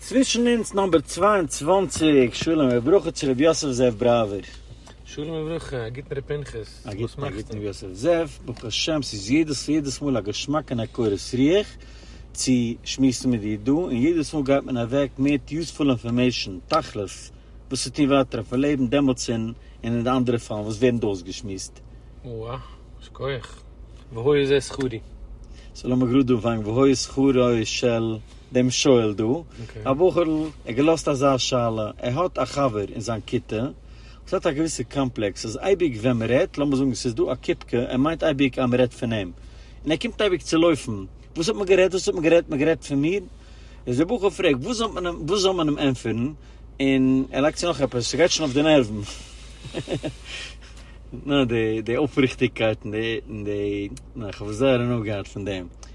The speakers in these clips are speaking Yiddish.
צווישן אונז נאמבער צוויי און צוואַנציק, שלום וברכה צו ר' יוסף זאב בראווער. שלום וברכה, א גוטן ר' פנחס, א גוטן א גוטן ר' יוסף זאב, ברוך השם ס'איז יעדעס יעדעס מאל א געשמאק און א קורת רוח צו שמועסן מיט דיר דא, און יעדעס מאל גייט מען אוועק מער יוספול אינפארמעישן, תכלית, וואס צו טון ווייטער אויפן לעבן דעמאלטס און און אין די אנדערע פאלן וואס ווערן דא אויסגעשמועסט. וואו, שכוח, והוי זה שכרי. ס'לאמיר גראד אנפאנגן והוי שכרו של. דעם שואל דא, א בחור'ל האט געלאזט אזא שאלה, ער האט א חבר אין זיין כיתה וואס האט א געוויסע קאמפלעקס אז אייביג ווען מען רעדט, לאמיר זאגן ס'איז דא א קופקע, ער מיינט אייביג אז מען רעדט פון אים, און ער קומט אייביג צו לויפן, וואס האט מען גערעדט, וואס האט מען גערעדט, מען האט גערעדט פון מיר? איז דער בחור פרעגט וואס זאל מען אים, וואס זאל מען אים ענטפערן, און ער לייגט צו נאך עפעס, ס'גייט שוין אויף די נערוון. נא, די אויפריכטיגקייט און די, און די, נא, איך האב זייער הנאה געהאט פון דעם.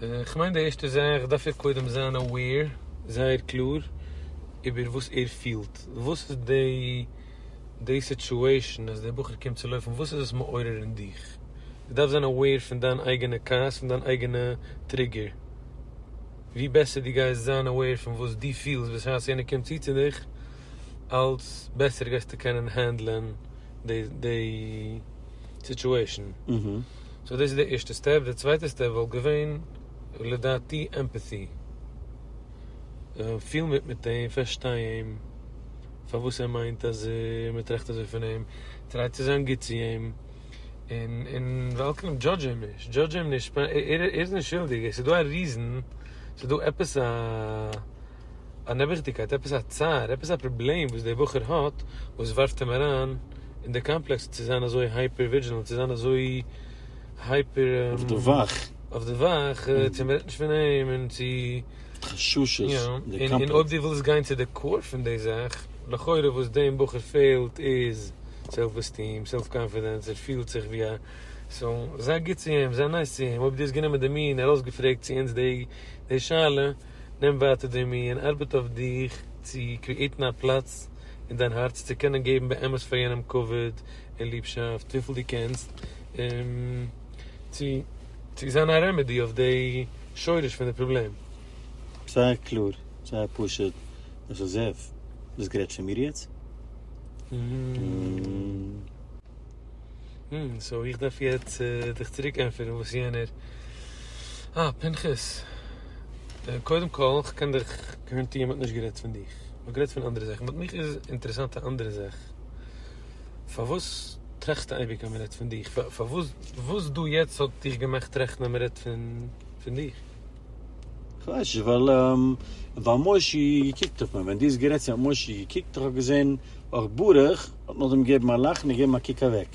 כ'מיין די ערשטע זאך דארף ער קודם זיין אוועיר, זייער קלאר, איבער וואס ער פילט, וואס איז די סיטשועישן אז דער בחור קומט צו לויפן, וואס איז עס מעורר אין דיך, דו דארפסט זיין אוועיר פון דיין אייגענע כעס, פון דיין אייגענע טריגער, ווי בעסער דו גייסט זיין אוועיר פון וואס דו פילסט בשעת יענער קומט צו צו דיך, אלץ בעסער גייסטו קענען הענדלען די סיטשועישן. סאו דאס איז די ערשטע סטעפ, די צווייטע סטעפ וואלט געווען לדעתי עמפעטי, פיל מיט מיט אים, פארשטיי אים, פארוואס ער מיינט אז מען טראכט אזוי פון אים, טריי צו זיין גוט צו אים, און און ועל כן דזשאדזש אים נישט, דזשאדזש אים נישט, ער איז נישט שולדיג, עס איז דא א ריזען, עס איז דא עפעס א. אן נעבעכדיגקייט, עפעס א צער, עפעס א פראבלעם וואס דער בחור האט, וואס ווארפט אים אריין אין די קאמפלעקס צו זיין אזוי הייפער ווידזשילענט, צו זיין אזוי הייפער אויף די וואך. אויף די וואך, צו מען רעדט נישט פון אים, און צו. חששות, יא, און אויב דו ווילסט גיין צו די קאור פון די זאך, לכאורה וואס דעם בחור פעלט איז סעלף עסטיעם, סעלף קאנפידענס, ער פילט זיך ווי א, סאו, זיי גוט צו אים, זיי נייס צו אים, אויב דו האסט גענומען די מי און ארויסגעפרעגט צו אונז די שאלה. נעם ווייטער די מי און ארבעט אויף דיך צו קריעטן א פלאץ אין דיין הארץ צו קענען געבן באמת פאר יענעם כבוד און ליבשאפט וויפיל דו קענסט און צו צו זיין א רעמעדי אויף די שורש פון די פראבלעם. זייער קלאר, זייער פשוט, איך זע וואס גרעטשען מיר יעצט. הום, סאו איך דארף יעצט דיך צוריק ענטפערן וואס יענער. אה, פנחס. קודם כל, כ'קען דיך גאראנטירן מ'האט נישט גערעדט פון דיך. מ'האט גערעדט פון אנדערע זאכן. באט מיך איז אינטערעסאנט א אנדערע זאך. פארוואס טראכסטו אייביג אז מ'רעדט פון דיך? פארוואס, וואס דא יעצט האט דיך געמאכט טראכטן אז מ'רעדט פון דיך? כ'ווייס נישט, ווייל, ווייל מוישי געקוקט אויף מיר, ווען דו האסט גערעדט צו האט מוישי געקוקט, איך האב געזען אויך ברוך האט נאכדעם געגעבן א לאך און געגעבן א קוק אוועק.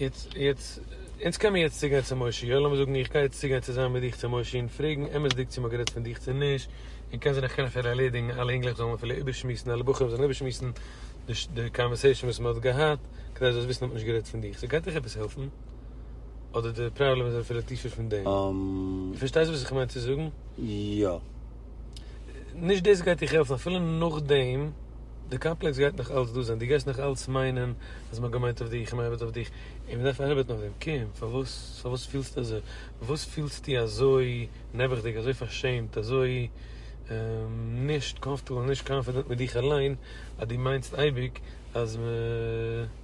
יעצט, יעצט, אונז קען מיר יעצט צוגיין צו מוישי, יא, לאמיר זאגן איך גיי יעצט צוגיין צוזאמען מיט דיך צו מוישי און פרעגן אמת'דיג צו מ'האט גערעדט פון דיך צו נישט, און קען זיין איך קען אפילו ערלעדיגן, אלע אינגלעך זאלן אפילו איבערשמועסן, אלע בחורים זאלן איבערשמועסן די קאנווערסעישן וואס מ'האט געהאט, כדי זאלסט וויסן אז מ'האט נישט גערעדט פון דיך, ס'גייט דיך עפעס העלפן? אדער די פראבלעם איז אפילו טיפער פון דעם? דו פארשטייסט וואס איך מיין צו זאגן? יא. נישט דאס גייט דיך העלפן אפילו נאכדעם, די קאמפלעקס גייט נאך אלץ דא זיין, דו גייסט נאך אלץ מיינען אז מען האט געמיינט אויף דיך און מען ארבעט אויף דיך, און מען דארף ארבעטן אויף דעם. קום, פארוואס, פארוואס פילסטו אזוי? וואס פילסטו אזוי נעבעכדיג, אזוי פארשעמט, אזוי נישט קאמפטעבל, נישט קאנפידענט מיט דיך אליין, אז דו מיינסט אייביג אז מען.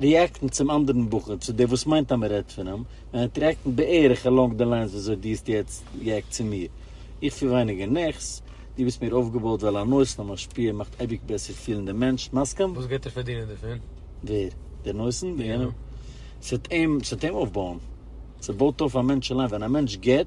ריעקטן צום אנדערן בחור, צו דער וואס מיינט אז מען רעדט פון אים, און ער האט ריעקטן בערך אלאנג די ליינס וויאזוי דו האסט יעצט ריעקט צו מיר. איך פיל ווייניגער נעכס, דו ביסט מער אויפגעבויט ווייל אן אויסנאם משפיע מאכט אייביג בעסער פילן דעם מענטש. מסכים? וואס גייט ער פארדינען דערפון? ווער? דער נותן? דער געבער? ס'וועט אים אויפבויען. ס'בויט אויף א מענטש אליין. ווען א מענטש גיבט.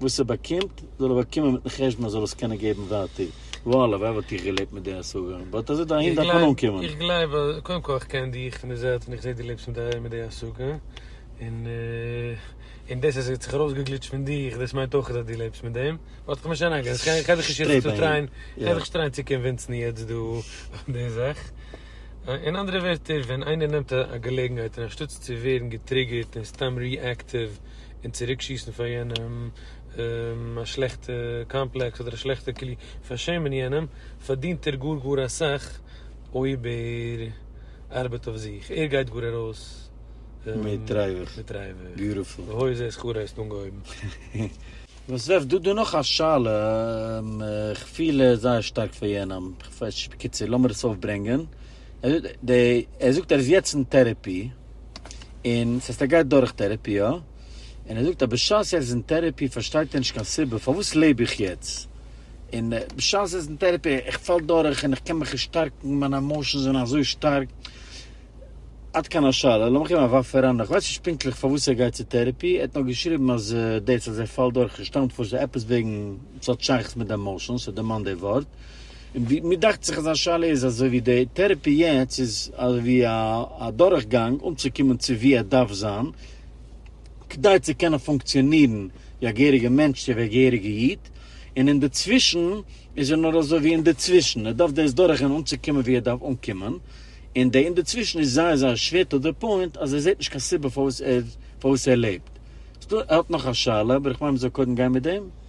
וואס ער באקומט זאל ער באקומען מיטן חשבון אז זאל עס קענען געבן ווייטער, וואו הלוואי וואלט איך געלעבט מיט די השגה, באט אז דערהין דארף מען אנקומען. איך גלייב אז, קודם כל איך קען דיך פון די זייט און איך זעה דו לעבסט מיט די מיט די השגה, און און דאס אז ס'האט זיך ארויסגעגליטשט פון דיך דאס מיינט אויך אז דו לעבסט מיט דעם, באט איך מיש אריינגיין, איך גיי דיך נישט יעצט טריין, איך גיי דיך נישט טריין צו קאנווינסן יעצט דא אויף די זאך, אין אנדערע ווערטער ווען איינער נעמט א געלעגנהייט און אנשטאטס צו ווערן געטריגערט און סתם ריעקטיוו און צוריק שיסן פאר יענעם א שלעכטע קאמפלעקס אדער א שלעכטע כלי פארשעמען יענעם, פארדינט ער גאר גאר אסאך אויב ער ארבעט אויף זיך, ער גייט גאר ארויס מיט רייוועך, והוי זה שכרו הייסט אנגעהויבן. וואס רעפ דא? דא נאך א שאלה, איך פיל זייער שטארק פאר יענעם, בקיצור לאמיר עס אויפברענגען, ער זאגט ער איז יעצט אין טערעפי, און ס'הייסט ער גייט דורך טערעפי יא, און ער זאגט אז בשעת ער איז אין טערעפי פארשטייט ער נישט קיין סיבה פארוואס לעב איך יעצט, און בשעת ער איז אין טערעפי איך פאל דורך און איך קען מיך נישט שטארקן מיינע עמאושענס זענען אזוי שטארק. עד כאן השאלה, לאמיך געבן א ווארף אריין, איך ווייס נישט פונקטליך פארוואס ער גייט צו טערעפי, ער האט נאר געשריבן אז דאס אז ער פאלט דורך שטאמט פון עפעס וועגן ס'האט שייכות מיט די עמאושענס, ער דערמאנט די ווארט. און ווי מיר דאכט זיך אז א שאלה איז אזוי ווי די טערעפי יעצט איז ווי א א דורך גאנג אנצוקומען צו ווי ער דארף זיין כדי צו קענען פונקציאנירן ווי א געהעריגע מענטש צו ווי א געהעריגע איד און אינדערצווישן איז ער נאר אזוי ווי אינדערצווישן ער דארף דאס דורך גיין אנצוקומען ווי ער דארף אנקומען און די אינדערצווישן איז זייער זייער שווער טו די פוינט אז ער זעט נישט קיין סיבה פארוואס ער פארוואס ער לעבט ס'דא ער האט נאך א שאלה אבער איך מיין מ'זאל קודם גיין מיט דעם.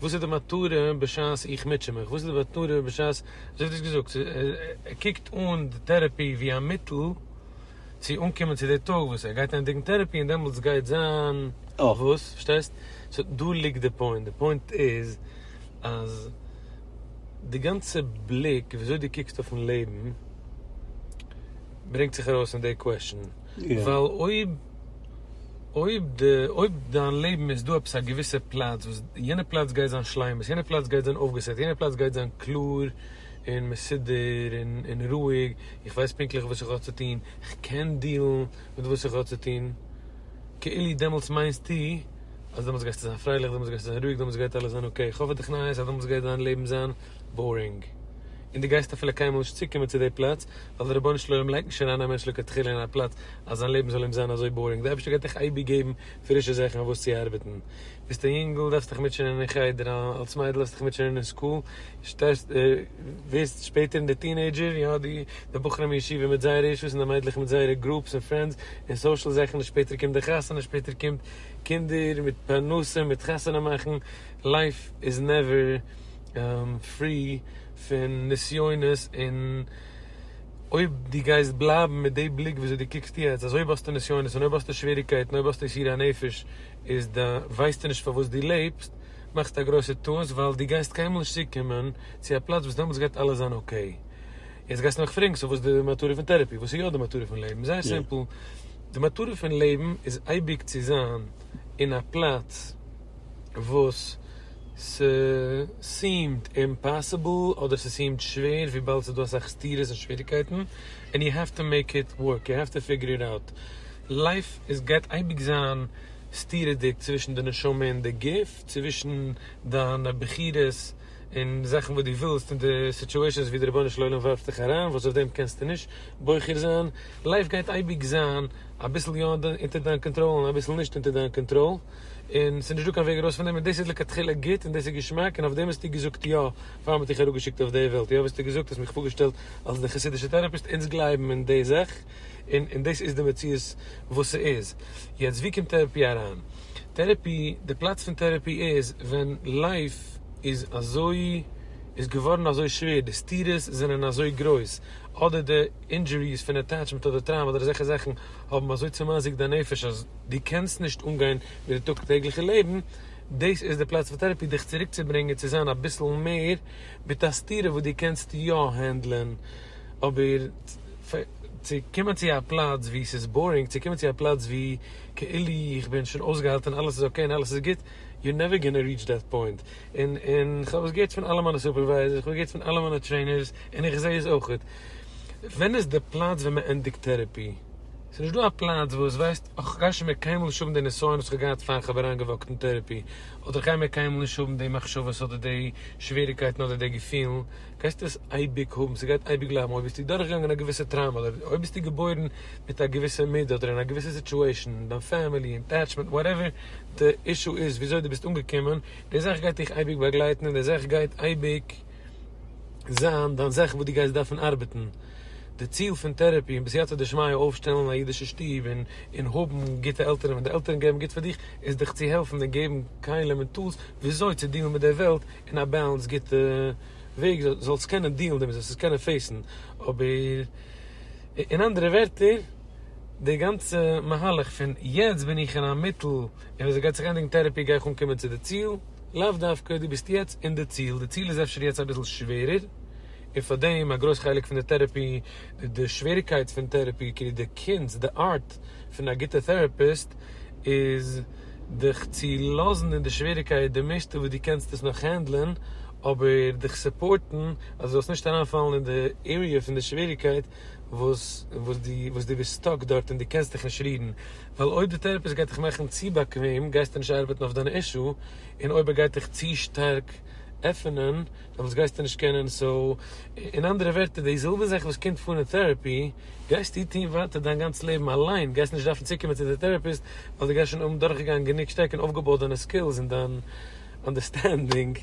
וואס איז די מטרה בשעת איך מוטשע מיך? וואס איז די מטרה בשעת, אזוי האט ער עס געזאגט, ער קוקט אן די טערעפי ווי א מיטל צו אנקומען צו די טאג וואס ער גייט ענדיגן טערעפי און דעמאלטס גייט זיין וואס, פארשטייסט? סאו דא ליגט די פוינט, די פוינט איז אז די גאנצע בליק ווי אזוי דו קוקסט אויפן לעבן ברענגט זיך ארויס אין די קוועשן. ווייל אויב אויב די אויב דיין לעבן איז דא עפעס א געוויסע פלאץ וואס יענע פלאץ גייט זיין שלימות יענע פלאץ גייט זיין אויפגעסעט יענע פלאץ גייט זיין קלאר און מסודר און און רואיג איך ווייס פונקטליך וואס איך האב צו טון איך קען דילן מיט וואס איך האב צו טון כאילו דעמאלטס מיינסטו אז דעמאלטס גייסטו זיין פרייליך דעמאלטס גייסטו זיין רואיג דעמאלטס גייט אלעס זיין אקעי איך האף פאר דיך נייעס אז דעמאלטס גייט דיין לעבן זיין בארינג, און דו גייסט אפילו קיינמאל נישט צוקומען צו די פלאץ, ווייל דער רבונו של עולם לייגט נישט אריין א מענטש לכתחילה אין א פלאץ אז זיין לעבן זאל אים זיין אזוי בארינג, דער אייבערשטער גייט דיך אייביג געבן פרישע זאכן אויף וואס צו ארבעטן, ביסט א יונגל דארפסט דיך מוטשענען אין חדר, אלס מיידל האסט דיך מוטשענען אין סקול, שטייסט ווערסט שפעטער אין די טינעידזשער יאר, די בחורים אין ישיבה מיט זייערע אישוס און די מיידלעך מיט זייערע גרופס און פרענדס און סאושעל זאכן, שפעטער קומט די חתונה, שפעטער קומט קינדער מיט פרנסה מיט חתונה מאכן, לייף איז נעווער. פרי פון נסיונות, און אויב דו גייסט בלייבן מיט די בליק וויאזוי דו קוקסט יעצט, אז אויב האסטו נסיונות און אויב האסטו שוועריקייטן, אויב האסטו יסורי הנפש, איז ד ווייסטו נישט פארוואס דו לעבסט, מאכסטו א גרויסע טעות, ווייל דו גייסט קיינמאל נישט צוקומען צו א פלאץ וואס דעמאלטס גייט אלעס זיין אקעי. יעצט גייסטו מיך פרעגן, סאו וואס איז די מטרה פון טערעפי? וואס איז יא די מטרה פון לעבן? זייער סימפל, די מטרה פון לעבן איז אייביג צו זיין אין א פלאץ וואס. ס'סיעמט אימפאסיבל אדער ס'סיעמט שווער וויבאלד ס'דא אסאך סתירות און שוועריקייטן ענד יו העוו טו מעיק איט ווארק יו העוו טו פיגור איט אוט לייף איז גייט אייביג זיין סתירות'דיג צווישן די נשמה און די גוף צווישן דיינע בחירות און זאכן וואס דו ווילסט און די סיטואשענס ווי די רבונו של עולם ווארפט דיך אריין וואס אויף דעם קענסטו נישט בוחר זיין לייף גייט אייביג זיין אביסל יא אונטער דיין קאנטראל און אביסל נישט אונטער דיין קאנטראל. און ס'איז נישט דא קיין וועג ארויס פון דעם, און דאס איז לכתחילה גוט, און דאס איז געשמאק, און אויף דעם האסטו געזאגט יא, פאר מ'האט דיך אראפגעשיקט אויף די וועלט, יא האסטו געזאגט, האסט מיך פארגעשטעלט אלס די חסידישע טערעפיסט, אונז גלייבן אין די זאך, און און דאס איז די מציאות וואס ס'איז. יעצט ווי קומט טערעפי אריין? טערעפי, די פלאץ פון טערעפי איז ווען לייף איז אזוי, איז געווארן אזוי שווער, די סתירות זענען אזוי גרויס, אדער די אינדזשוריס פון אטעטשמענט אדער טראומא אדער אזעלכע זאכן, האבן אזוי צעמאזיקט דיין נפש אז דו קענסט נישט אנגיין מיט די טאג טעגליכע לעבן, דאס איז די פלאץ פאר טערעפי דיך צוריק צו ברענגען צו זיין אביסל מער מיט א סתירה וואס דו קענסט יא הענדלען, אבער צו קומען צו א פלאץ ווי ס'איז בארינג, צו קומען צו א פלאץ ווי כאילו איך בין שוין אויסגעהאלטען אלעס איז אקעי און אלעס איז גוט, יור נעווער גאנא ריעטש דעט פוינט, און און כ'האב עס געהערט פון אלע מיינע סופערווייזערס, כ'האב געהערט פון אלע מיינע טרעינערס, און איך זעה עס אויכעט. ווען איז די פלאץ ווען מען ענדיגט טערעפי? ס'איז נישט דא א פלאץ וואס ווייסט, איך גיי שוין מער קיינמאל נישט האבן די נסיון וואס כ'האב געהאט פאר כ'האב אריינגעוואקט אין טערעפי, אדער כ'גיי מער קיינמאל נישט האבן די מחשבות אדער די שוועריקייטן אדער די געפילן, גייסטו עס אייביג האבן, ס'גייט אייביג בלייבן אויב ביסטו דורכגעגאנגען א געוויסע טראומא אדער אויב ביסטו געבוירן מיט א געוויסע מידה אדער אין א געוויסע סיטועשן אין דיין פעמילי, אין עטעטשמענט, וואטעווער די אישו איז וויאזוי די ביסט אנגעקומען, די זאך גייט דיך אייביג באגלייטן און די זאך גייט אייביג. זיין דיין זאך וואס דו גייסט דארפן ארבעטן, די ציל פון טערעפי און בסייעתא דשמיא אויפשטעלן א אידישע שטוב און און האבן גוטע עלטערן ווען די עלטערן געבן גוט פאר דיך איז דיך צו העלפן און געבן כלים און טולס וויאזוי צו דילן מיט די וועלט אין א בעלענס גוטע וועג זאל זאלסט קענען דילן דערמיט זאלסט עס קענען פעיסן אבער אין אנדערע ווערטער די גאנצע מהלך פון יעצט בין איך אין א מיטל און ווען ס'גייט זיך ענדיגן טערעפי גיי איך אנקומען צו די ציל, לאו דווקא דו ביסט יעצט אין די ציל, די ציל איז אפשר יעצט אביסל שווערער, און פאר דעם א גרויס חלק פון די טערעפי, די שוועריקייט פון טערעפי, כאילו די קונץ, די ארט, פון א גוטע טערעפיסט איז דיך צו לאזן אין די שוועריקייט די מערסטע וואס דו קענסט עס נאך הענדלען, אבער דיך סופארטן אז דו זאלסט נישט אריינפאלן אין די עריע פון די שוועריקייט, וואס וואס די וואס די ביסט סטאק דארט און די קענסט דיך נישט רירן ווייל אויב די טערעפיסט גייט דיך מאכן צו באקוועם גייסטו נישט ארבעטן אויף דיין אישו און אויב ער גייט דיך צו שטארק עפענען דעמאלטס גייסטו נישט קענען סאו אין אנדערע ווערטער די זעלבע זאך וואס קומט פאר אין טערעפי גייסטו טון ווייטער דיין גאנץ לעבן אליין גייסט נישט דארפן צוקומען צו די טערעפיסט ווייל די גייסט שוין האבן דורכגעגאנגען גענוג שטארק און אויפגעבויט דיינע סקילס און דיין אנדערסטענדינג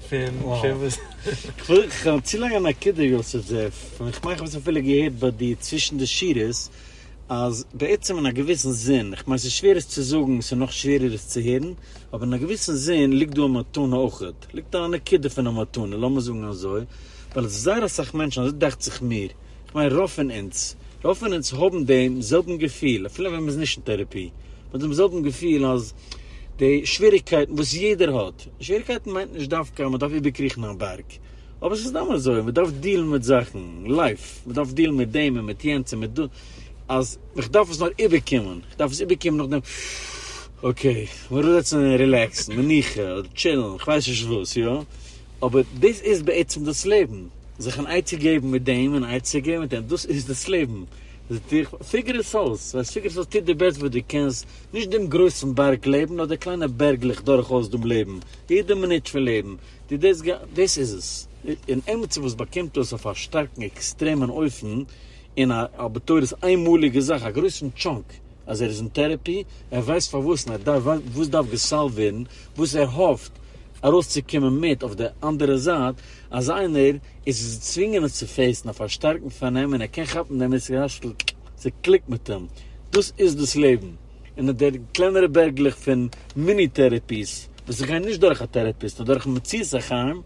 פון וואס. כ'האב צו לאנג א נקודה יוסף זאב, און כ'מיין כ'האב עס אפילו געהערט ביי דיר צווישן די שורות, אז בעצם אין א געוויסן זין, כ'מיין ס'איז שווער עס צו זאגן, ס'איז נאך שווערער עס צו הערן, אבער אין א געוויסן זין ליגט דא א מתנה אויכעט, ליגט דא א נקודה פון א מתנה, לאמיר זאגן אזוי, ווייל זייער אסאך מענטשן, אזוי דאכט זיך מיר, כ'מיין רוב פון אונז, רוב פון אונז האבן דעם זעלבן געפיל, אפילו ווען מ'איז נישט אין טעראפי, מ'האט דעם זעלבן געפיל אז די שוועריגקייטן וואס יעדער האט, שוועריגקייטן מיינט נישט דווקא אז מ'דארף איבערקריכן א בארג, אבער ס'איז סתם אזוי, מ'דארף דילן מיט זאכן, לייף, מ'דארף דילן מיט דעם און מיט יענץ און מיט דאס, אז איך דארף עס נאר איבערקומען, איך דארף עס איבערקומען נאכדעם, אקעי, מ'ארומזעצן און רילעקסן, מנוחה, אדער טשילן, כ'ווייס נישט וואס, יא? אבער דאס איז בעצם דאס לעבן, זיך אן עצה געבן מיט דעם און א עצה געבן מיט דעם, דאס איז דאס לעבן, פיגער עס אויס, ווייל פיגער עס אויס, טו די בעסט וואס דו קענסט, נישט דעם גרויסן בארג לעבן, נאר די קליינע בערגלעך דורך אויס דעם לעבן, יעדע מינוט פון לעבן, טו דאס, דאס איז עס. און עמיצער וואס באקומט דאס אויף א שטארקן עקסטרעמען אופן, און א בתורת איינמאליגע זאך, א גרויסן טשאנק אז ער איז אין טערעפי, ער ווייסט פארוואס און ער דארף וואס דארף געסאלווט ווערן, וואס ער האפט ארויסצוקומען מיט אויף די אנדערע זייט, אז איינער איז געצווינגען עס צו פעיסן אויף א שטארקן פארנעם און ער קען כאפן דעם איז כאשטל ס'קליקט מיט אים, דאס איז דאס לעבן, און אט דער קלענערע בערגלעך פון מיני טערעפיס וואס איך גיי נישט דורך א טערעפיסט נאר דורכן מציאות החיים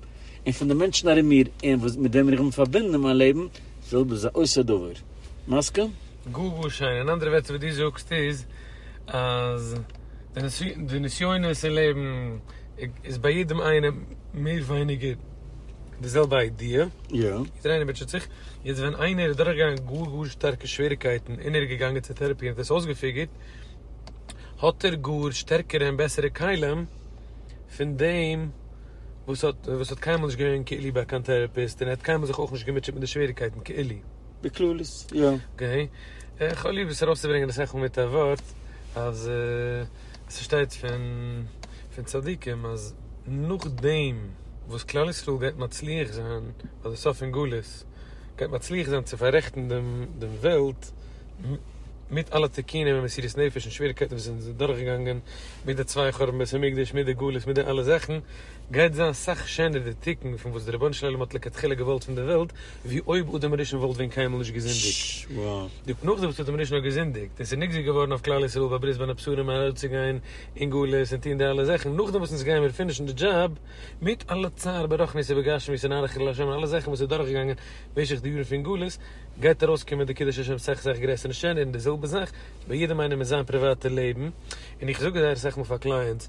און פון די מענטשן ארום מיר און מיט וועמען איך בין פארבינדן אין מיין לעבן, זעלבע זה עושה דבר. מסכים? גאר גאר שיין, אין אנדערע ווערטער וואס דו זאגסט איז אז די נסיונות אין לעבן איז ביי יעדעם איינעם מער ווייניגער די זעלבע איידיע, יעדער איינער מוטשעט זיך, יעצט ווען איינער איז דורכגעגאנגען גאר גאר שטארקע שוועריקייטן און ער איז געגאנגען צו טעראפי און האט עס אויסגעפיגערט, האט ער גאר שטערקערע און בעסערע כלים פון דעם וואס האט קיינמאל נישט געווען כאילו ביי קיין טעראפיסט און ער האט קיינמאל זיך אויך נישט געמוטשעט מיט די שוועריקייטן כאילו. בכללית, יא. אקעי. איך האב ליב עס ארויסצוברענגען אסאך מאל מיט א ווארט, אז עס שטייט פון פון צדיקים אז נאכדעם וואס כלל ישראל גייט מצליח זיין ביי די סוף פון גלות, גייט מצליח זיין צו פאררעכטן דעם דעם וועלט, מיט אלע תיקונים און מסירות נפש און שוועריקייטן וואס זיי זענען דורכגעגאנגען, מיט די צוויי חורבן בית המקדש, מיט די גלות, מיט די אלע זאכן, גייט זיין סאך שענער די תיקון פון וואס דער רבונו של עולם האט לכתחילה געוואלט פון די וועלט, ווי אויב אדם הראשון וואלט ווען קיינמאל נישט געזינדיגט. די פנוכה וואס אדם הראשון האט געזינדיגט, און ס'איז נגזר געווארן אויף כלל ישראל ביי ברית בין הבשרים ארויסצוגיין אין גלות און טון די אלע זאכן, נאכדעם וואס אונז גייען מיר פינישן די דזשאב, מיט אלע צער ברחנית ובגשמיות און אנכי ל השם און אלע זאכן וואס איז דורכגעגאנגען משך די יארן פון גלות, גייט ארויסקומען די קידוש השם סאך סאך גרעסער און שענער, און די זעלבע זאך ביי יעדעם איינעם אין זיין פריוואטע לעבן, און איך זאג עס זייער אסאך מאל פאר קלייענטס.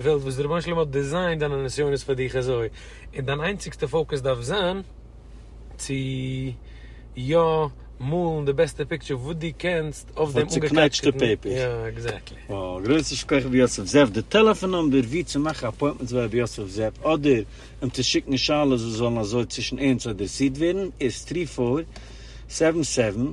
וועלט וואס די רבונו של עולם האט דעזיינט דיינע נסיונות פאר דיך אזוי, און דיין איינציגסטע פאוקעס דארף זיין צו יא מאלן די בעסטע פיקטשער וואס דו קענסט אויף דעם אנגעקלעצטערטן, יא עקזעקטלי. וואו, גרויסע שכח רבי יוסף זאב, די טעלעפאן נומבער ווי צו מאכן אפוינטמענטס ביי רבי יוסף זאב אדער אים צו שיקן שאלות וואס זאלן אזוי צווישן אונז אדרעסירט ווערן איז טרי פאר סעווען סעווען